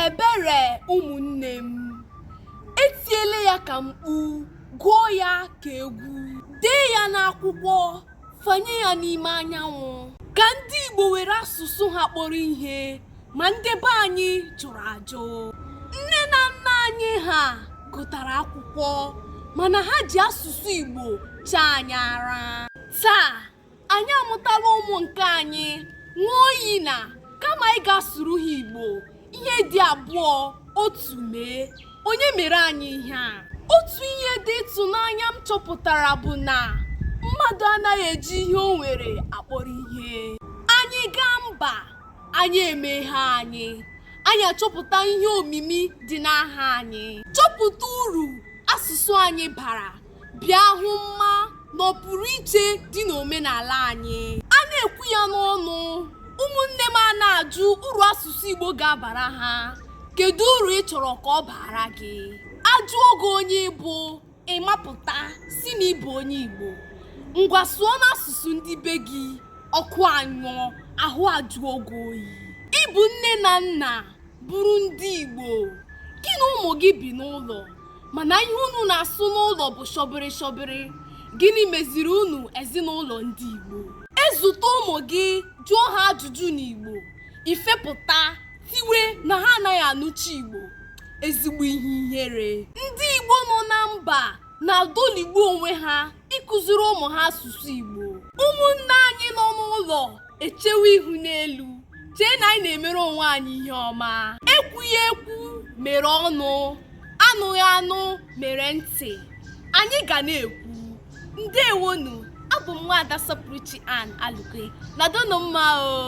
ebere ụmụnne m etiele ya ka mkpu gụọ ya ka egwu dee ya n'akwụkwọ fanye ya n'ime anyanwụ ka ndị igbo were asụsụ ha kpọrọ ihe ma ndị be anyị jụrụ ajụ nne na nna anyị ha gụtara akwụkwọ mana ha ji asụsụ igbo chaa anyị ara taa anyị amụtala ụmụ nke anyị ṅụọ iyi na kama anyị ga-asụrụ ha igbo ihe dị abụọ otu mee onye mere anyị ihe a otu ihe dị ịtụnanya m chọpụtara bụ na mmadụ anaghị eji ihe o nwere akpọrọ ihe anyị gaa mba anya emeghe anyị anyị achọpụta ihe omimi dị n'aha anyị chọpụta uru asụsụ anyị bara bịa hụ mma na ọpụrụ iche dị n'omenala anyị a na-ekwu ya n'ọnụ ụmụnne m a na-ajụ uru asụsụ Igbo ga-abara ha kedu uru ị chọrọ ka ọ baara gị a jụọ gị onye ị bụ ị mapụta sị na ị bụ onye Igbo ngwa sụọnụ asụsụ ndị be gị ọkụ anyụọ ahụ ajụọ gị oyi ị bụ nne na nna bụrụ ndị Igbo gị na ụmụ gị bi n'ụlọ mana ihe unu na-asụ n'ụlọ bụ shọbịrị shọbịrị gịnị meziri unu ezinụlọ ndị Igbo e zute ụmụ gị jụọ ha ajụjụ n'Igbo i fepụta tiwe na ha anaghị anụcha Igbo ezigbo ihe ihere ndị Igbo nọ na mba na-adọligbu onwe ha ịkụziri ụmụ ha asụsụ Igbo ụmụnne anyị nọ n'ụlọ echewe ihu n'elu chee na anyị na-emere onwe anyị ihe ọma ekwughị ekwu mere ọnụ anụghị anụ mere ntị anyị ga na-ekwu ndewonu abụ m nwaada sọpụrụchi ann alụkwe nọdụnụ mma o